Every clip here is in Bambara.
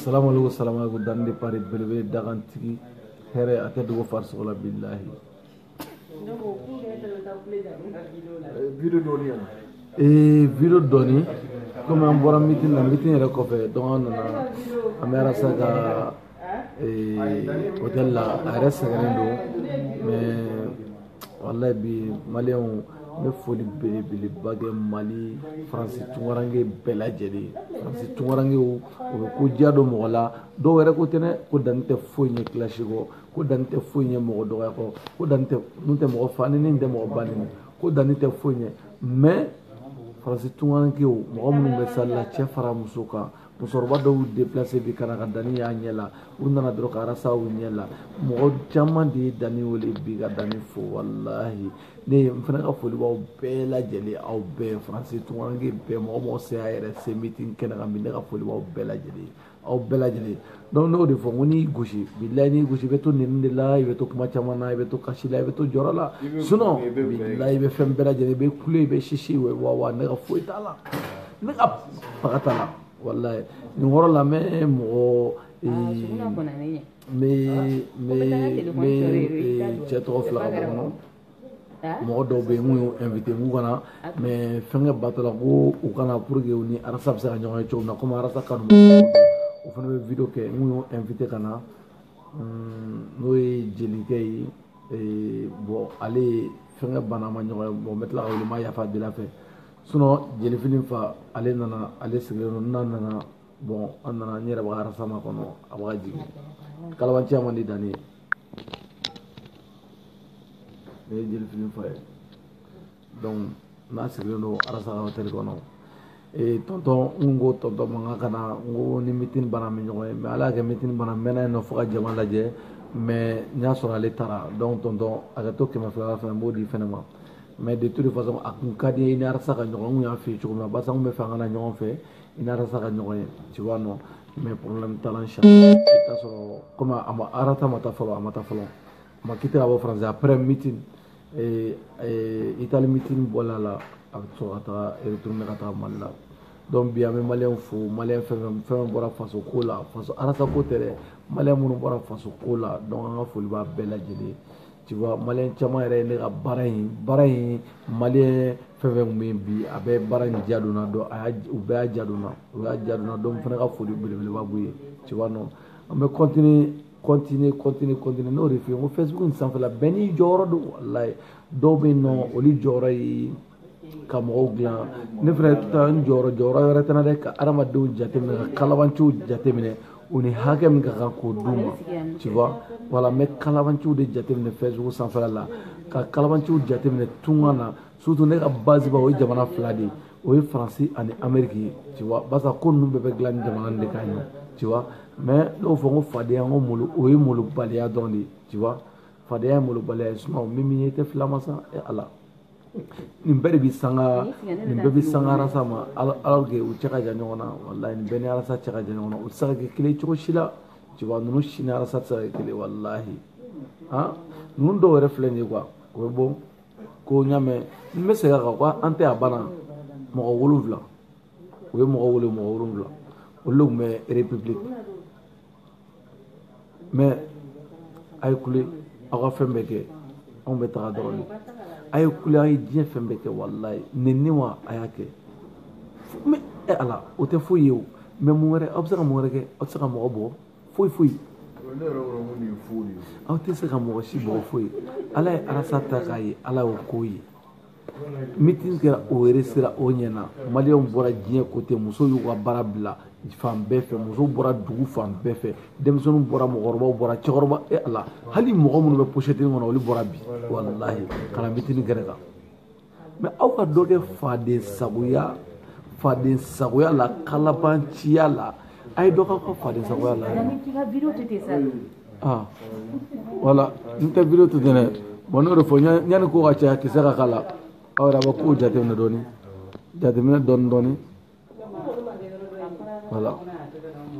salamualeykum salamualeykum danni de pari belebele dagantigi hɛrɛ a tɛ dogo farisogo la bilahi video dɔɔni yan ee video dɔɔni komi an bɔra mitin na mitin yɛrɛ kɔfɛ donc an nana an bɛ arasa ka hôtel la a yɛrɛ sɛgɛnnen don mais walahi bi maliyɛnw n bɛ foli belebeleba kɛ mali faransi tunkaranke bɛɛ lajɛlen faransi tunkarankew u bɛ ko diya don mɔgɔ la dɔw yɛrɛ ko tɛ dɛ ko danni tɛ foyi ɲɛ clash kɔ ko danni tɛ foyi ɲɛ mɔgɔ dɔgɔya kɔ ko danni tɛ ne tɛ mɔgɔ fa nɛni n tɛ mɔgɔ ba nɛni ko danni tɛ foyi ɲɛ mais faransi tunkarankew mɔgɔ minnu bɛ salle la cɛ fara muso kan musokɔrɔba dɔw déplacé bi ka na ka danni y'a ɲɛ la u nana dɔrɔn ka arasa u ɲɛ la mɔgɔ caman de ye danni wele bi ka danni fo walahi ne ye n fana ka foli b'aw bɛɛ lajɛlen aw bɛɛ faransi tunkaranke bɛɛ mɔgɔ o mɔgɔ se y'a yɛrɛ se mitin kɛnɛ kan bi ne ka foli b'aw bɛɛ lajɛlen aw bɛɛ lajɛlen donc ne y'o de fɔ n ko n'i gosi bilayi n'i gosi i bɛ to nɛni de la i bɛ to kuma caman na i bɛ to kasi la i bɛ to jɔrɔ la sinon bilayi i bɛ fɛn bɛɛ lajɛlen i bɛ kule i bɛ sisi wa wa ne ka foyi t'a la ne ka faga t'a la walayi nin yɔrɔ la n bɛ mɔgɔ n bɛ n bɛ n bɛ cɛ tɔgɔ fila ka bɔ kɔnɔ mɔgɔ dɔw bɛ yen n y'u invité k'u ka na mais fɛnkɛ bato la ko u ka na pour que u ni arasa bɛ se ka ɲɔgɔn ye cogo min na komi arasa kanu o fana bɛ video kɛ n y'o invité ka na n'o ye jelikɛ ye ee, bɔn ale ye fɛnkɛ banna an ma ɲɔgɔn ye bɔn n bɛ tila k'a wele n bɛ yafa deli a fɛ sinon jelifini fa ale nana ale sigilen don n'a nana bɔn an nana n yɛrɛ bɛ arasa makɔnɔ a bɛ ka jigin kalabanciya man di danni ye ne ye jeli fili fa ye donc n'a sigilen don arasa ka hôtel kɔnɔ ee tɔntɔn n ko tɔntɔn makan ka na n ko ni mitini banna an bɛ ɲɔgɔn ye mais ala y'a kɛ mitini banna n mɛnna yen nɔ fo ka jama lajɛ mais n y'a sɔrɔ ale taara donc tɔntɔn hakɛ to kɛmɛ fila fana n b'o di fɛnɛ ma mais de toute façon a kun ka di n ye i ni arasa ka ɲɔgɔn n kun y'a f'i ye cogo min na barisa n kun b'a fɛ an ka na ɲɔgɔn fɛ i ni arasa ka ɲɔgɔn ye tu vois non mais problème t'a la inchallah i t'a sɔrɔ comme a ma arasa ma taa fɔlɔ a ma taa fɔlɔ a ma quitté ka bɔ faransi après meeting eh, eh, itali meeting bɔla la a bɛ sɔrɔ ka taga retourner ka taga mali la donc bi an bɛ maliyɛnw fo maliyɛn fɛn fɛn fɛn fɛn bɔra faso ko la faso arasa ko tɛ dɛ maliyɛn minnu bɔra faso ko la donc an ka foli b'a bɛɛ lajɛlen ye tu vois maliyɛn caman yɛrɛ ye ne ka baara in baara in maliyɛn fɛn fɛn tun bɛ yen bi a bɛɛ baara in diya don n na donc a y'a u bɛɛ y'a diya don n na u y'a diya don n na donc n fana ka foli belebeleba b'u ye tu vois non an bɛ continuer continuer continuer continuer n y'o de f'i ye n ko facebook in sanfɛla bɛɛ n'i jɔyɔrɔ don walayi dɔw bɛ yen nɔ olu jɔyɔrɔ ye ka mɔgɔw dilan ne fana taa n jɔyɔrɔ jɔyɔrɔ wɛrɛ tɛ n na dɛ ka adamadenw jateminɛ ka kalabanciw jateminɛ u ni hakɛ min ka kan k'o d'u ma tu vois voilà n bɛ kalabanciw de jateminɛ Facebook sanfɛla la ka kalabanciw jateminɛ tunga na surtout ne ka baziba o ye jamana fila de ye o ye faransi ani ameriki ye tu vois barisa ko ninnu bɛɛ bɛ dilan ni jamana nin de kan ye tu vois mais ne y'o fɔ n ko fadenya n ko malo o ye malobaliya dɔrɔn de ye tu vois fadenya ye malobaliya ye sinon min min ye i tɛ filama sa e ala nin bɛɛ de bɛ sanga nin bɛɛ bɛ sanga arasa ma alors que u cɛ ka jan ɲɔgɔn na walayi nin bɛɛ ni arasa cɛ ka jan ɲɔgɔn na u tɛ se ka kɛ kelen cogo si la cɛba ninnu si ni arasa tɛ se ka kɛ kelen walahi han ninnu dɔw yɛrɛ filɛ nin ye quoi o bɛ bɔ ko n y'a mɛn n bɛ segin a kan ko an tɛ a banna mɔgɔ wolonwula u ye mɔgɔ wele mɔgɔ wolonwula olu de tun bɛ république mais a ye kule aw ka fɛn bɛɛ kɛ anw bɛ taga dɔrɔn de a ye kule a ye diɲɛ fɛn bɛɛ kɛ walayi nɛni wa a y'a kɛ mais e ala o tɛ foyi ye o mais mun wɛrɛ aw bɛ se ka mun wɛrɛ kɛ aw tɛ se ka mɔgɔ bɔ foyi foyi aw tɛ se ka mɔgɔ si bɔ foyi ala ye arasa ta k'a ye ala y'o k'o ye mitin kɛra o réussira o ɲɛna maliyɛnw bɔra diɲɛ kote musow y'u ka baara bila fan bɛɛ fɛ musow bɔra dugu fan bɛɛ fɛ denmisɛnninw bɔra mɔgɔkɔrɔbaw bɔra cɛkɔrɔba e ala hali mɔgɔ minnu bɛ posetini kɔnɔ olu bɔra bi walahi ka na mitini kɛnɛ kan mais aw ka dɔ kɛ fadensagoya fadensagoya la kalabanciya la a ye dɔ k'aw ka fadensagoya la aa voilà n tɛ video to ten dɛ bon n'o de fɔ yanni ko ka caya kisɛ ka k'a la aw yɛrɛ a bɛ kow jateminɛ dɔɔni jateminɛ dɔɔni dɔɔni voilà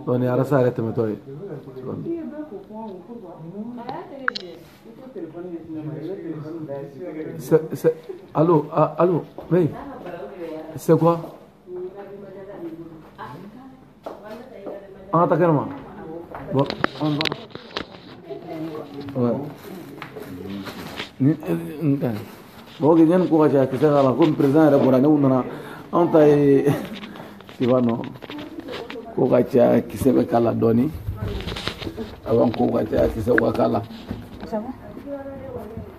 donc ni arasa yɛrɛ tɛmɛtɔ ye alo alo oui c'est quoi an ka taa kɛnɛ ma bon an ba ni n ka mɔgɔ ko yanni ko ka caya kisɛ k'a la komi perezidan yɛrɛ bɔra ne kun nana anw ta ye i b'a dɔn ko ka caya kisɛ bɛ k'a la dɔɔnin avant ko ka caya kisɛ ka k'a la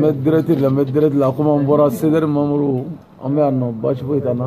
Mɛtɛrɛti la mɛtɛrɛti la komi an bɔra sɛri mamuru an bɛ yan nɔ basi foyi t'an na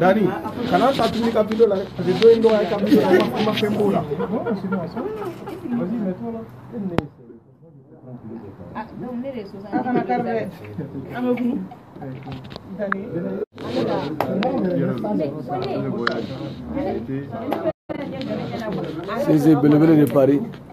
Dani kana taa tuguni ka video la dɛ parce que dɔ in dɔgɔya ka video la i ma fɛn b'o la Sese belebele de Paris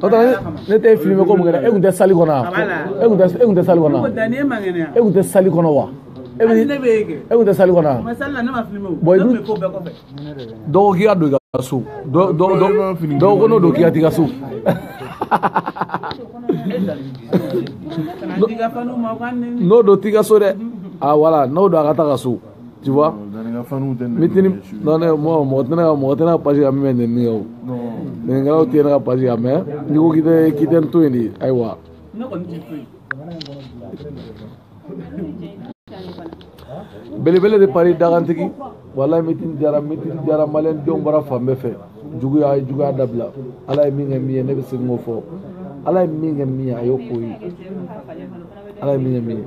n'o tɛ ne tɛ filmer ko mun kɛ e tun tɛ sali kɔnɔ wa e tun tɛ e tun tɛ sali kɔnɔ wa e tun tɛ sali kɔnɔ wa e bɛ e tun tɛ sali kɔnɔ wa bɔn i dun dɔ ko k'i ka don i ka so dɔ dɔ dɔ dɔ ko n'o don k'i ka t'i ka so. n'o don t'i ka so dɛ ah voilà n'o don a ka taa ka so. tu vois mitini non ne mɔgɔ mɔgɔ tɛ ne ka mɔgɔ tɛ ne ka page kan min bɛ nɛni kɛ nɛnikɛlaw tɛ ne ka page kan mais n'i ko k'i tɛ k'i tɛ n to yen de ayiwa belebele de Paris dakantigi walayi mitini diyara mitini diyara maliyɛn denw bɔra fan bɛɛ fɛ juguya juguya dabila ala ye min kɛ min ye ne bɛ segin k'o fɔ ala ye min kɛ min ye a y'o k'o ye ala ye min kɛ min ye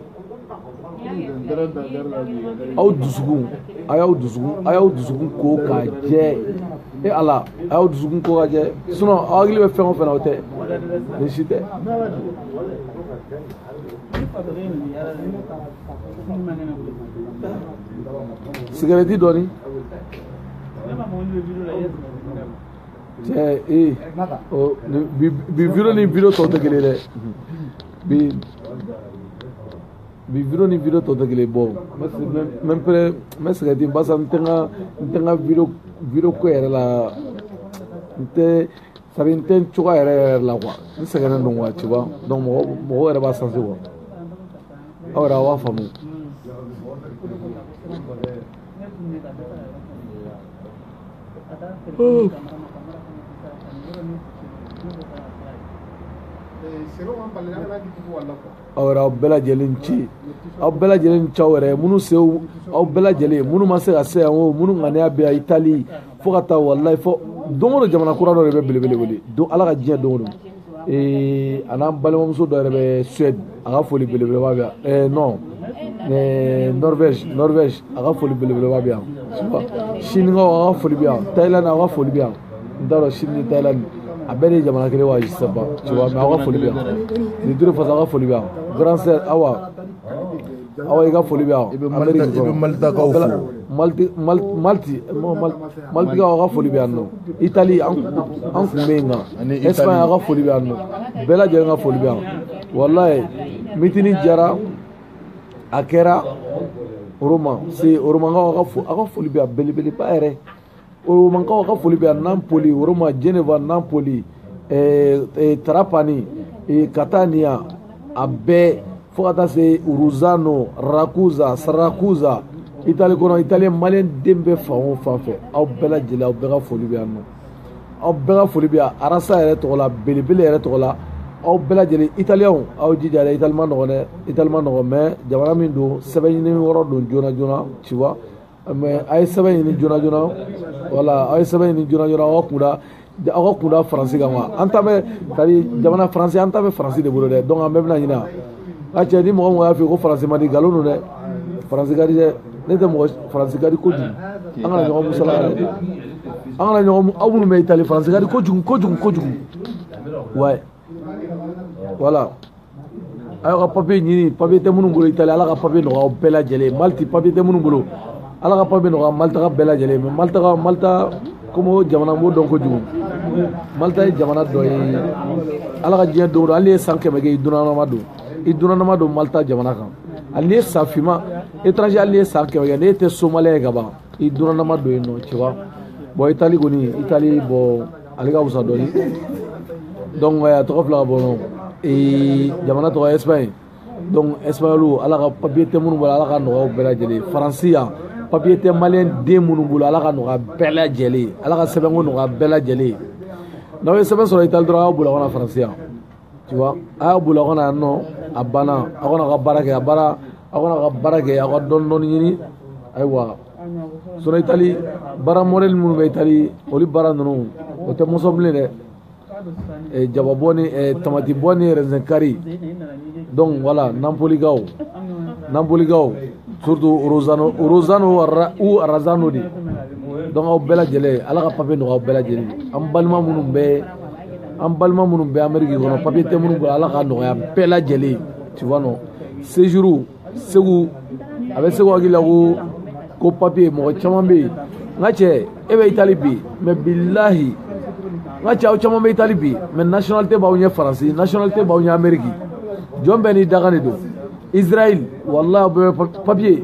aw dusukun a y'aw dusukun a y'aw dusukun ko ka jɛ e ala a y'aw dusukun ko ka jɛ sinɔn aw hakili bɛ fɛn o fɛn na o tɛ nin si tɛ sigarɛti dɔɔni cɛ ee bi video ni video tɔw tɛ kelen ye dɛ bi bi video ni video tɔw tɛ kelen bon mais pɛrɛ mɛ sigarɛti basa n tɛ n ka n tɛ n ka video video ko yɛrɛ la n tɛ sari n tɛ n cogoya yɛrɛ yɛrɛ la quoi n sɛgɛnnen don quoi tu vois donc mɔgɔ mɔgɔw yɛrɛ b'a sentir quoi aw yɛrɛ aw b'a faamu aw yɛrɛ aw bɛɛ lajɛlen ni ce aw bɛɛ lajɛlen ni ce aw yɛrɛ minnu se aw bɛɛ lajɛlen minnu ma se ka se yan o minnu ŋaniya bɛ yan Itali fo ka taa walayi fo don o don jamana kura dɔ de bɛ belebele wele don ala ka diɲɛ don o don ee a n'an balimamuso dɔ yɛrɛ bɛ suwɛdi a ka foli belebeleba bɛ yan ɛɛ nɔn ɛɛ nɔrvɛzi nɔrvɛzi a ka foli belebeleba bɛ yan sinikaw a ka foli bɛ yan tayilandi a ka foli bɛ yan n t'a dɔn sini ni tayilandi a bɛɛ de ye jamana kelen wa je sais pas tu vois mais a ka foli bɛ yan nin turu fasa a ka foli bɛ yan grande sœur awa awa i ka foli bɛ yan i bɛ malitakaw fo maliti maliti malitikaw ka foli bɛ yan nɔ itali an kun bɛ yen nka espagne ka foli bɛ yan nɔ bɛɛ lajɛlen ka foli bɛ yan walayi mitini jara a kɛra roma se romankaw ka fo a ka foli bɛ yan belebeleba yɛrɛ romankaw ka foli bɛ yan napoli roma geneva napoli eh, eh, trapani eh, catania a bɛɛ fo ka taa se ruzano rakuza sarakuza itali kɔnɔ italien malien den bɛ fan o fan fɛ aw bɛɛ lajɛlen aw bɛɛ ka foli bɛ yan nɔ aw bɛɛ ka foli bɛ yan arasa yɛrɛ tɔgɔ la belebele yɛrɛ tɔgɔ la aw bɛɛ lajɛlen italiyɛnw aw jija dɛ itali man nɔgɔn dɛ itali man nɔgɔn mais jamana min don sɛbɛn ɲini yɔrɔ don joona joona tu vois mais a ye sɛbɛn ɲini joona joona voilà a ye sɛbɛn ɲini joona joona aw ka kun da aw ka kun da faransi kan wa an ta bɛ tari jamana faransi an ta bɛ faransi de bolo dɛ donc an bɛɛ bɛna ɲina a cɛ ni mɔgɔ mɔgɔ y'a f'i ye ko faransi man di nkalon don dɛ faransi ka di dɛ ne tɛ mɔgɔ faransi ka di kojugu an kana ɲɔgɔn musala yɛrɛ an kana ɲɔgɔn aw minnu bɛ itali faransi ka di kojugu kojugu kojugu ouais voilà a y'aw ka papiye ɲini papiye tɛ minnu bolo itali ala ka papiye nɔgɔya aw bɛɛ lajɛlen maliti papiye tɛ minnu bolo ala ka papiye nɔgɔya malitaka bɛɛ lajɛlen mais malitaka malita komi o jamana n b'o dɔn kojugu malita ye jamana dɔ ye ala ka diɲɛ don o don hali i ye san kɛmɛ kɛ i dunanama don i dunanama don malita jamana kan hali n'i ye san finma étranger hali n'i ye san kɛmɛ kɛ n'e tɛ somaliyɛn ye ka ban i dunanama don yen nɔ tu vois bon itali kɔni itali bon ale ka wusa dɔɔni donc eh, a tɔgɔ fila ka bɔ ɲɔgɔn eh, jamana tɔgɔ ye espagne donc espagnolu ala ka papiye tɛ minnu bolo ala ka nɔgɔyaw bɛɛ lajɛlen faransi yan papiye tɛ maliyɛn den minnu bolo ala ka nɔgɔya bɛɛ lajɛlen ala ka sɛbɛnko nɔgɔya bɛɛ lajɛlen n'aw ye sɛbɛn sɔrɔ itali dɔrɔn aw boli ka na faransi yan tu vois a y'a boli aw ka na yan nɔ a banna aw ka na ka baara kɛ a baara aw ka na ka baara kɛ aw ka dɔɔni dɔɔni ɲini ayiwa sinon itali baara mɔdɛli minnu bɛ itali olu baara ninnu o tɛ mɔgɔ sɔn bilen dɛ eh, jababɔ ni eh, tamatibɔ ni raisin kari donc voilà napolikaw napolikaw surtout rosano rosano ou arazano de donc aw bɛɛ lajɛlen ala ka papiye nɔgɔya aw bɛɛ lajɛlen an balima minnu bɛ an balima minnu bɛ ameriki kɔnɔ papiye tɛ minnu bolo ala ka nɔgɔya bɛɛ lajɛlen tu vois non séjour segu a bɛ segu hakili la ko ko papiye mɔgɔ caman bɛ yen n ka cɛ e bɛ itali bi mais bilahi n ka cɛ aw caman bɛ itali bi mais nationalité b'aw ɲɛ faransi nationalité b'aw ɲɛ ameriki jɔn bɛɛ n'i dakan de don israel walahi aw bɛɛ bɛ papiye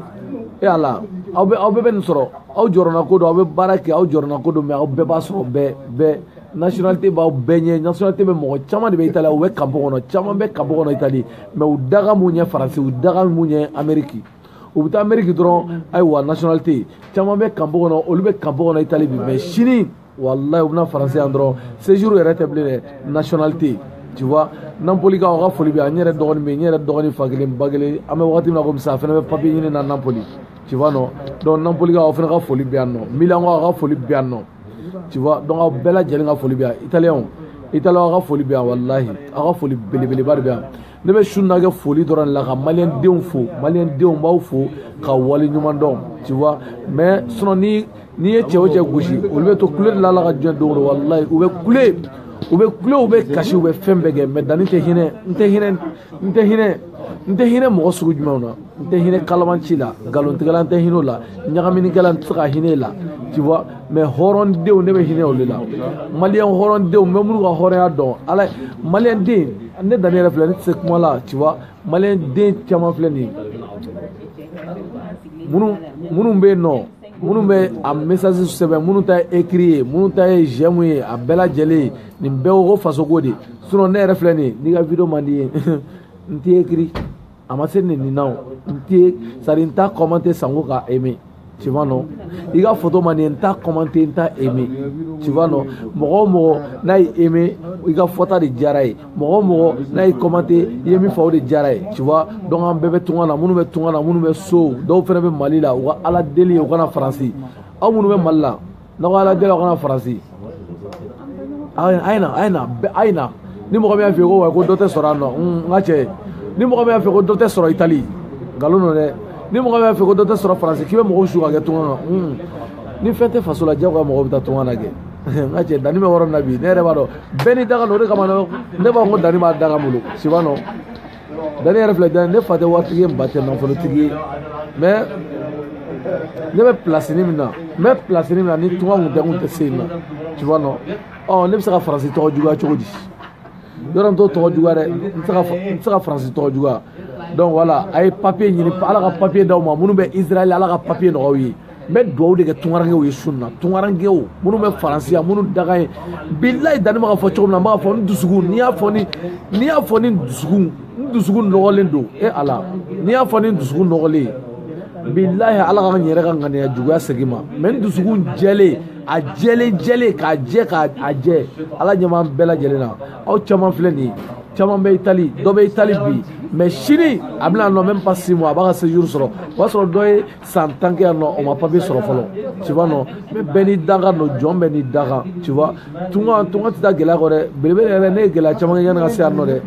e ala aw bɛɛ aw bɛɛ bɛ nin sɔrɔ aw jɔrɔnanko don aw bɛ baara kɛ aw jɔrɔnanko don mais aw bɛɛ b'a sɔrɔ bɛɛ bɛɛ nationalité b'aw bɛɛ ɲɛ nationalité bɛ mɔgɔ caman de bɛ itali u bɛ kanpo kɔnɔ caman bɛ kanpo kɔnɔ itali mais u dakan b'u ɲɛ faransi u dakan b'u ɲɛ ameriki u bɛ taa ameriki dɔrɔn ayiwa nationalité caman bɛ kanpo kɔnɔ olu bɛ kanpo kɔnɔ itali bi mais sini walayi u bɛna faransi yan dɔrɔn séjour yɛrɛ tɛ bilen dɛ nationalité tu vois napolikaw aw ka foli bɛ yan n yɛrɛ dɔgɔnin bɛ yen n yɛrɛ dɔgɔnin fa kelen ba kelen an bɛ wagati min na komi sisan a fana bɛ papiye ɲini na napoli tu vois non donc napolikaw aw fana ka foli bɛ yan nɔ milankaw aw ka foli bɛ yan nɔ tu vois donc aw bɛɛ lajɛlen ka foli bɛ yan italiyɛnw italiyɛnw aw ka foli bɛ yan walahi aw ka foli belebeleba de bɛ yan ne bɛ su na kɛ foli dɔrɔn de la ka maliyɛn denw fo maliyɛn denw b'aw fo ka wale ɲuman dɔn tu vois mais sinon ni n ye cɛ o cɛ gosi olu bɛ to kule de la ala ka diɲɛ don o don walahi u bɛ kule u bɛ kule u bɛ kasi u bɛ fɛn bɛɛ kɛ mais danni tɛ hinɛ n tɛ hinɛ n tɛ hinɛ n tɛ hinɛ mɔgɔ sugu jumɛnw na n tɛ hinɛ kalabanci la nkalontigɛla n tɛ hinɛ o la ɲagaminikɛla n tɛ se ka hinɛ la tu vois mais hɔrɔndenw ne bɛ hinɛ olu la maliyɛn hɔrɔndenw n bɛ minnu ka hɔrɔnya dɔn ala maliyɛn den ne danni yɛrɛ filɛ ne tɛ se kuma la tu vois maliyɛn den caman filɛ nin ye minnu minnu bɛ yen nɔ minnu bɛ a message sɛbɛn minnu ta ye écrit ye minnu ta ye j'aime ye a bɛɛ lajɛlen nin bɛɛ ko fasoko de sinon ne yɛrɛ filɛ nin ye n'i ka video man di ye n t'i écrit a ma se nin na o n tɛ sari n t'a commenter sanko ka aimer tu vois non i ka foto man di n ye n t'a commenter n t'a aimer tu vois non mɔgɔ o mɔgɔ n'a ye aimer i ka fɔta de diyara ye mɔgɔ o mɔgɔ n'a ye commenter i ye min fɔ o de diyara ye tu vois donc an bɛɛ bɛ tunga na minnu bɛ tunga na minnu bɛ so dɔw fana bɛ mali la u ka ala deli ye u ka na faransi aw minnu bɛ mali la n'aw ka ala deli aw ka na faransi a ye na a ye na a ye na ni mɔgɔ min y'a f'i ye ko wa ko dɔ tɛ sɔrɔ yan nɔ n ka cɛ ni mɔgɔ min y'a f'i ye ko dɔ tɛ sɔrɔ itali nkalon don dɛ ni mɔgɔ min y'a f'i ye ko dɔ tɛ sɔrɔ faransi k'i bɛ mɔgɔw su ka kɛ tunga na ni fɛn tɛ faso la jagoya mɔgɔw bɛ taa tunga na kɛ n ka cɛ danni bɛ yɔrɔ min na bi ne yɛrɛ b'a dɔn bɛɛ n'i dakan don o de kama ne b'a fɔ ko danni b'a dakan bolo tu vois non danni yɛrɛ filɛ dan ne fa tɛ waritigi ye n ba tɛ nafolotigi ye mais ne bɛ pilasini min na n bɛ pilasini min na ni tunga kun tɛ n kun tɛ se yen nɔ tu vois non ɔ ne bɛ se ka faransi tɔgɔ juguya cogo di yɔrɔ n t'o tɔgɔ juguya dɛ n tɛ se ka n tɛ se ka faransi tɔgɔ juguya donc voilà a ye papiye ɲini ala ka papiye d'aw ma minnu bɛ israɛl ala ka papiye nɔgɔya u ye n bɛ dugawu de kɛ tunkarankew ye sun na tunkarankew minnu bɛ faransi yan minnu dakan ye bilayi danni bɛ k'a fɔ cogo min na n b'a fɔ n dusukun ni n y'a fɔ ni ni n y'a fɔ ni dusukun n dusukun nɔgɔlen don e ala ni n y'a fɔ ni dusukun nɔgɔlen bilayi ala ka n yɛrɛ ka ŋaniya juguya segin n ma mais n dusukun jɛlen a jɛlen jɛlen k'a jɛ k'a a jɛ ala ɲɛ b'an bɛɛ lajɛlen na aw caman filɛ nin ye caman bɛ itali dɔ bɛ itali bi mais sini a bɛna nɔ même pas six mois a b'a ka séjour sɔrɔ o y'a sɔrɔ dɔ ye san tan kɛ yan nɔ o ma papiye sɔrɔ fɔlɔ tu vois nɔ mais bɛɛ n'i dakan don jɔn bɛɛ n'i dakan tu vois tunga tunga tɛ taa gɛlɛya kɔ dɛ belebele yɛrɛ ne ye gɛlɛya caman kɛ yanni ka se yan nɔ dɛ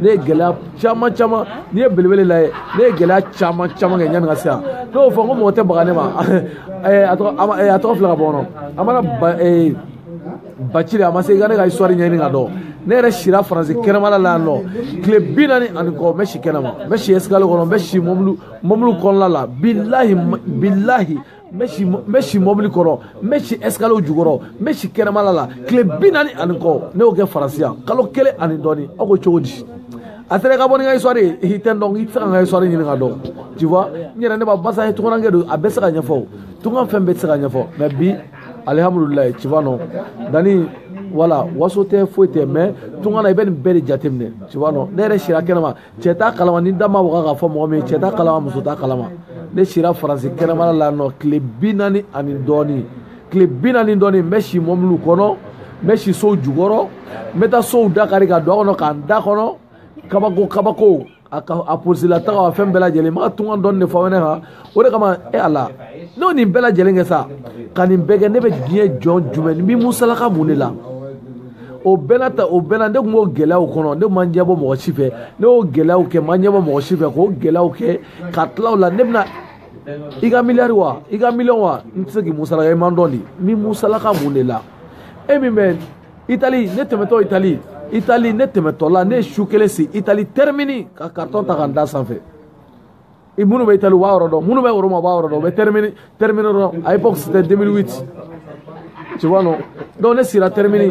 ne ye gɛlɛya caman caman n'i ye belebele lajɛ ne ye gɛlɛya caman caman kɛ yanni ka se yan ne y'o fɔ n ko mɔgɔ tɛ baga ne ma eh, a tɔgɔ eh, a tɔgɔ filɛ ka bɔ kɔnɔ amara ba eh, bacili a ma se i ka ne ka histoire ɲɛɲini ka dɔn ne yɛrɛ sira faransi kɛnɛmala la yan nɔ tile bi naani ani kɔ n bɛ si kɛnɛma n bɛ si escalier kɔnɔ n bɛ si mɔbili mɔbili kɔnɔna la bilahi bilahi n bɛ si mɔbili kɔrɔ n bɛ si escalier jukɔrɔ n bɛ si kɛnɛmala la tile bi naani ani kɔ ne y'o kɛ faransi yan kalo kelen ani dɔɔni aw ko cogo di a sera ka bɔ ni ka histoire ye i tɛ n dɔn i tɛ se ka n ka histoire ɲini ka dɔn tu vois n yɛrɛ ne b'a basa ye tungankɛ don a bɛ se ka ɲɛfɔ o tunga fɛn bɛɛ tɛ se ka ɲɛfɔ mais bi alihamudulilayi tu vois non dani voilà waso tɛ foyi tɛ mais tunga na i bɛ nin bɛɛ de jateminɛ tu vois non ne yɛrɛ sira kɛnɛma cɛ t'a kalama ni da ma waga k'a fɔ mɔgɔ min ye cɛ t'a kalama muso t'a kalama ne sira faransi kɛnɛmala la nɔ tile bi naani ani dɔɔni tile bi naani dɔɔni n bɛ si mɔbiliw kɔnɔ n bɛ si sow jukɔrɔ n bɛ taa sow dakari ka don a kɔnɔ ka n da kɔnɔ kabako kabako a ka a polisi la taga a fɛn bɛɛ lajɛlen n bɛ ka tunga dɔɔni de fɔ aw ɲɛna o de kama e ala n'o nin bɛɛ lajɛlen kɛ sa ka nin bɛɛ kɛ ne bɛ diɲɛ jɔn jumɛn n b'i musalaka mun de la o bɛɛ la ta o bɛɛ la ne tun b'o gɛlɛyaw kɔnɔ ne ma ɲɛbɔ mɔgɔ si fɛ ne y'o gɛlɛyaw kɛ ma ɲɛbɔ mɔgɔ si fɛ k'o gɛlɛyaw kɛ ka tila o la ne bɛna i ka miliyari wa i ka miliyɔn wa n tɛ se k'i musalaka i ma n dɔn de n b'i musalaka mun de la e min bɛ itali ne tɛmɛtɔ itali itali ne tɛmɛtɔ la ne ye su kelen si itali termini ka carton ta ka n da sanfɛ i minnu bɛ itali u b'a yɔrɔ dɔn minnu bɛ roma u b'a yɔrɔ dɔn u bɛ termini termini dɔn à l'époque c'était 2008 tu vois non donc ne sira termini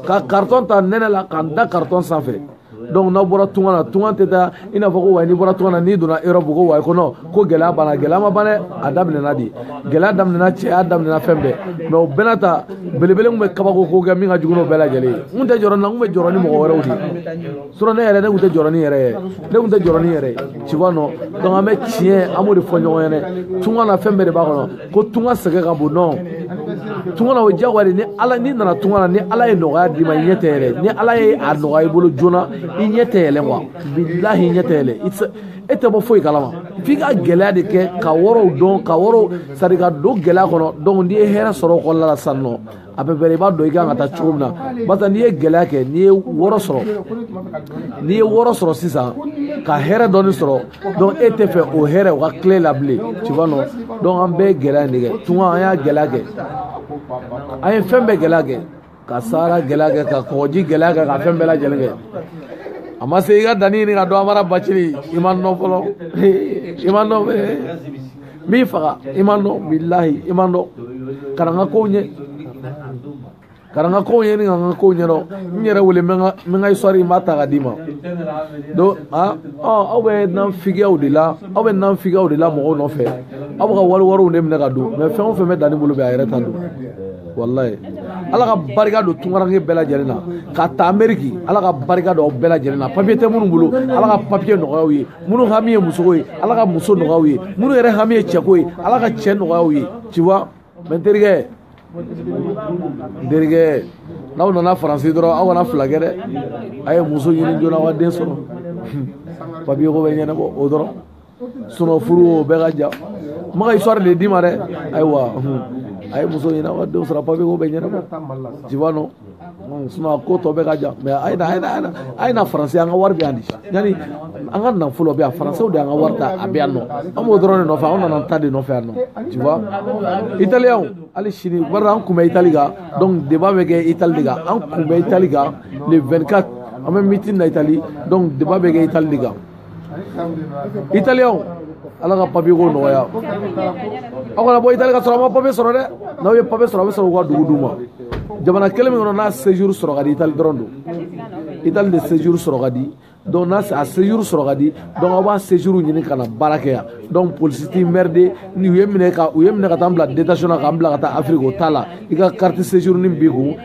ka carton ta nɛnɛ la ka n da carton sanfɛ donc n'aw bɔra tunga na tunga tɛ taa i n'a fɔ ko wayi n'i bɔra tunga na n'i donna europe ko wayi ko non ko gɛlɛya banna gɛlɛya ma ban dɛ a daminɛna de gɛlɛya daminɛna cɛya daminɛna fɛn bɛɛ mais o bɛɛ n'a ta belebele tun bɛ kabako ko kɛ min ka jugu n'o bɛɛ lajɛlen ye n tun tɛ jɔrɔ n na n tun bɛ jɔrɔ ni mɔgɔ wɛrɛw de ye sinon ne yɛrɛ ne tun tɛ jɔrɔ ni yɛrɛ ye ne tun tɛ jɔrɔ ni yɛrɛ ye tu vois non donc an bɛ tiɲɛ an b'o de fɔ ɲɔgɔn ɲɛna tunga na fɛn bɛɛ de b'a kɔnɔ ko tunga sɛgɛn ka bon non tunga na o diyagoya de ni ala n'i nana tunga na ni ala ye nɔgɔya d'i ma i ɲɛ tɛ yɛlɛ ni ala ye a nɔgɔya i bolo joona i ɲɛ tɛ yɛlɛ quoi bilahi i ɲɛ tɛ yɛlɛ i tɛ e tɛ bɔ foyi kalama f'i ka gɛlɛya de kɛ ka wɔrɔw dɔn ka wɔrɔw c'est-à-dire ka don gɛlɛya kɔnɔ donc n'i ye hɛrɛ sɔrɔ o kɔnɔna la sisan nɔ à peu près i b'a dɔn i kan ka taa cogo min na barisa n'i ye gɛlɛya kɛ n'i ye wɔɔrɔ sɔrɔ n'i ye wɔɔrɔ sɔrɔ sisan ka hɛrɛ dɔɔni sɔrɔ donc e tɛ fɛ o hɛrɛ o ka tila e la bilen tu vois non donc an bɛɛ ye gɛlɛya in de kɛ tunga an y'a gɛlɛya kɛ an ye fɛn bɛɛ gɛlɛya kɛ ka sahara gɛlɛya kɛ ka kɔgɔji gɛlɛya kɛ ka fɛn bɛɛ lajɛlen kɛ a ma se i ka dani ɲini ka dɔn amara bacili i ma n dɔn fɔlɔ i ma n dɔn n b'i faga i ma n dɔn bilahi i ma n dɔn ka na n ka kow ɲɛ ka na n ka kow ɲɛ ni ka n ka kow ɲɛdɔn n yɛrɛ wele n bɛ n ka histoire n b'a ta ka d'i ma donc a aw bɛ naafigiyaw de la aw bɛ naafigiyaw de la mɔgɔw nɔfɛ aw bɛ ka wari wariw de minɛ ka dun mais fɛn o fɛn bɛ danni bolo bɛ a yɛrɛ ta don walayi ala ka barika don tunkaranke bɛɛ lajɛlen na ka ta ameriki ala ka barika don aw bɛɛ lajɛlen na papiye tɛ minnu bolo ala ka papiye nɔgɔya aw ye minnu hami ye musoko ye ala ka muso nɔgɔya aw ye minnu yɛrɛ hami ye cɛko ye ala ka cɛ nɔgɔya aw ye tu vois mais n terikɛ n terikɛ n'aw nana faransi dɔrɔn aw kana fila kɛ dɛ a ye muso ɲini joona aw ka den sɔrɔ papiye ko bɛ ɲɛnabɔ o dɔrɔn sinon furu o bɛɛ ka jan n bɛ ka histoire de d'i ma dɛ ayiwa a ye muso ɲini aw ka denw sɔrɔ papiye ko bɛ ɲɛnabɔ tu vois non sinon ko tɔ bɛɛ ka jan mais a ye na a ye na a ye na faransi an ka wari bɛ yan de yanni an ka nafolo bɛ yan faransɛw de y'an ka wari ta a bɛ yan nɔ an b'o dɔrɔn de nɔfɛ an nana an ta de nɔfɛ yan nɔ tu vois italiyɛnw hali sini bari an kun bɛ itali kan donc débat bɛ kɛ itali de kan an kun bɛ itali kan le 24 an bɛ meeting na itali donc débat bɛ kɛ itali de kan italiyɛnw ala ka papiye ko nɔgɔya aw kana bɔ itali ka sɔrɔ a ma papiye sɔrɔ dɛ n'aw ye papiye sɔrɔ a bɛ sɔrɔ u ka dugu d'u ma jamana kelen min kɔnɔ n'a séjour sɔrɔ ka di itali dɔrɔn don itali de séjour sɔrɔ ka di donc n'a a séjour sɔrɔ ka di donc aw b'a séjour ɲini ka na baara kɛ yan donc polisi t'i emmerder ni u y'i minɛ ka u y'i minɛ ka taa n bila détention na k'an bila ka taa afiriki o t'a la i ka carte séjour ni b'i kun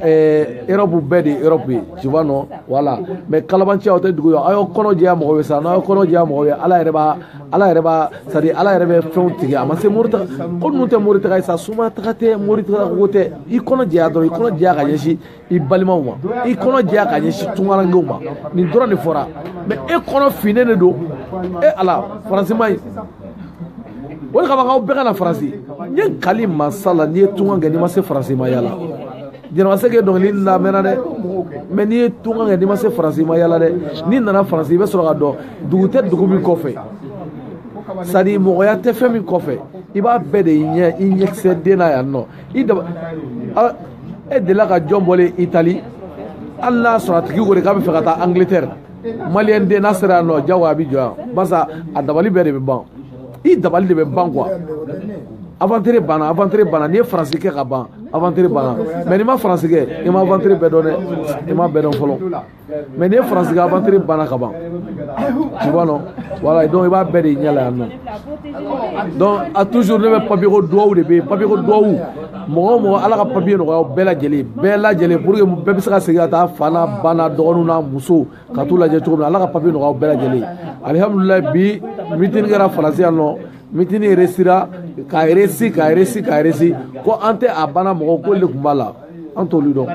erɔbu bɛɛ de ye erɔbu ye tu vois non voilà mais kalabanciya o tɛ dugu ye aw y'aw kɔnɔ jɛya mɔgɔw ye sa n'aw y'aw kɔnɔ jɛya mɔgɔw ye ala yɛrɛ b'a ala yɛrɛ b'a c'est à dire ala yɛrɛ bɛ fɛnw tigɛ a ma se mori taga ko ninnu tɛ mori taga ye sa soma taga tɛ mori taga ko tɛ i kɔnɔ jɛya dɔrɔn i kɔnɔ jɛya ka ɲɛsin i balimaw ma i kɔnɔ jɛya ka ɲɛsin tunkarankew ma nin dɔrɔn de fɔra mais e kɔnɔ finnen de don e ala faransi ma ye o de kama k'aw bɛɛ ka na faransi n ye n kali masa la n'i ye tunkan kɛ n'i ma se faransi i ma yaala jɛnɛba sɛki dɔnkili lamɛnna dɛ mais n'i ye tunkan kɛ n'i ma se faransi i ma yaala dɛ n'i nana faransi i bɛ sɔrɔ k'a dɔn dugu tɛ dugu min kɔfɛ c'est à dire mɔgɔya tɛ fɛn min kɔfɛ i b'a bɛɛ de ye i ɲɛkisɛ den na yan nɔ i daba e delila ka jɔn bɔlen itali hali n'a sɔrɔ a tigi ko de k'a bɛ fɛ ka taa angleterre maliyɛn den n'a sera yan nɔ jagoya a bɛ jɔ yan barisa a dabali bɛɛ de bɛ ban i dabali de bɛ ban quoi aventure banna aventure banna n'i ye faransi kɛ ka ban aventure banna mais n'i ma faransi kɛ i ma aventure bɛɛ dɔn dɛ i ma bɛɛ dɔn fɔlɔ mais n'i ye faransi kɛ aventure banna ka ban tu vois non voilà donc i b'a bɛɛ de y'i ɲɛ la yan nɔ donc a toujours ne bɛ papier ko duwawu de bɛ yen papier ko duwawu mɔgɔ o mɔgɔ ala ka papiye nɔgɔya bɛɛ lajɛlen bɛɛ lajɛlen pour que bɛɛ bɛ se ka segin ka taa fa n'a ba n'a dɔgɔninw n'a muso ka t'u lajɛ cogo min na ala ka papiye nɔgɔya bɛɛ lajɛlen alihamudulilayi bi mitini kɛra faransi yan non mitini réussira ka réussi ka réussi ka réussi ko an tɛ a banna mɔgɔ ko de tun b'a la an t'olu dɔn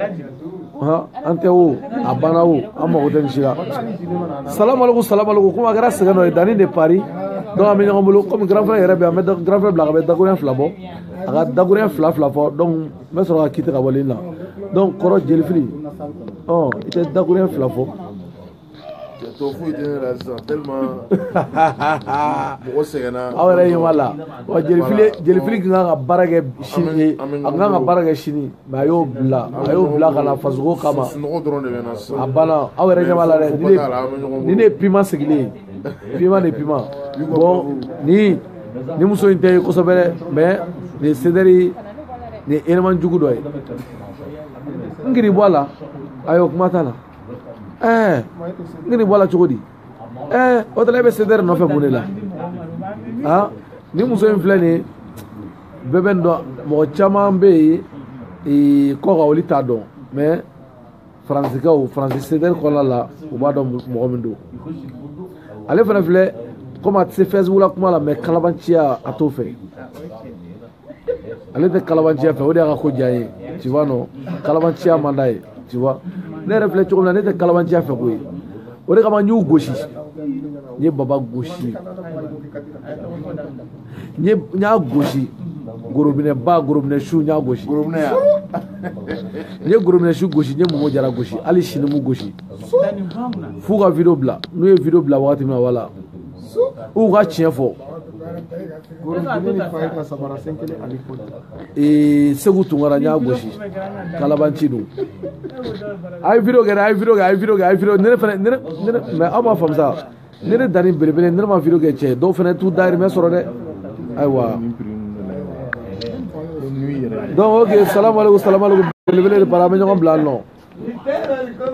an tɛ o a banna o an mago tɛ nin si la salamaleku salamaleku komi a kɛra sɛgɛn dɔ ye danni de Paris donc an bɛ ɲɔgɔn bolo komi grand frère yɛrɛ bɛ yan an bɛ grand frère bila ka bɛ dakuruɲɛ fila bɔ a ka dakuruɲɛ fila fila fɔ donc n bɛ sɔrɔ ka quitter ka bɔ ligne na donc kɔrɔ jelifili ɔ i tɛ dakuruɲɛ fila fɔ. tɔ foyi tɛ ne la sisan tellement mɔgɔ sɛgɛnna. aw yɛrɛ ɲɛ b'a la wa jelifili jelifili tun kan ka baara kɛ sini ye a tun kan ka baara kɛ sini mais a y'o bila a y'o bila ka na fasoko kama a banna aw yɛrɛ ɲɛ b'a la dɛ ni ne ni ne ye pima sigilen ye. pima de pima bon ni ni muso in tɛ kosɛbɛ dɛ mais nin CDR nin élément jugu dɔ ye n kiri bɔ a la ayiwa kuma t'a la ɛɛ n kiri bɔ a la cogo di ɛɛ o t'a la e bɛ CDR nɔfɛ mun de la aa nin muso in filɛ nin ye bɛɛ bɛ nin dɔn mɔgɔ caman bɛ yen kɔkan olu t'a dɔn mais faransikaw faransi CDR kɔnɔna la u b'a dɔn mɔgɔ min don ale fana filɛ komi a tɛ se Facebook la kuma la mais kalabanciya a t'o fɛ ale tɛ kalabanciya fɛ o de y'a ka ko diya ye tu vois non kalabanciya man d'a ye tu vois ne yɛrɛ filɛ cogo min na ne tɛ kalabanciya fɛ koyi o de kama n y'u gosi n ye baba gosi n ye n y'a gosi gorobinɛ ba gorobinɛ su n y'a gosi gorobinɛ yan n ye gorobinɛ su gosi n ye momo jara gosi hali sini n b'u gosi f'u ka video bila n'u ye video bila wagati min na wala u ka tiɲɛ fɔ ee segu tunkara n y'a gosi kalabanci don a ye video kɛ dɛ a ye video kɛ a ye video kɛ a ye video ne fana ne ne mais aw m'a faamu sa ne de danni belebele ne ma video kɛ cɛ dɔw fana t'u dayirimɛ sɔrɔ dɛ ayiwa donc ok salamu aleykum salamu aleykum belebele de Paris an bɛ ɲɔgɔn bila nɔ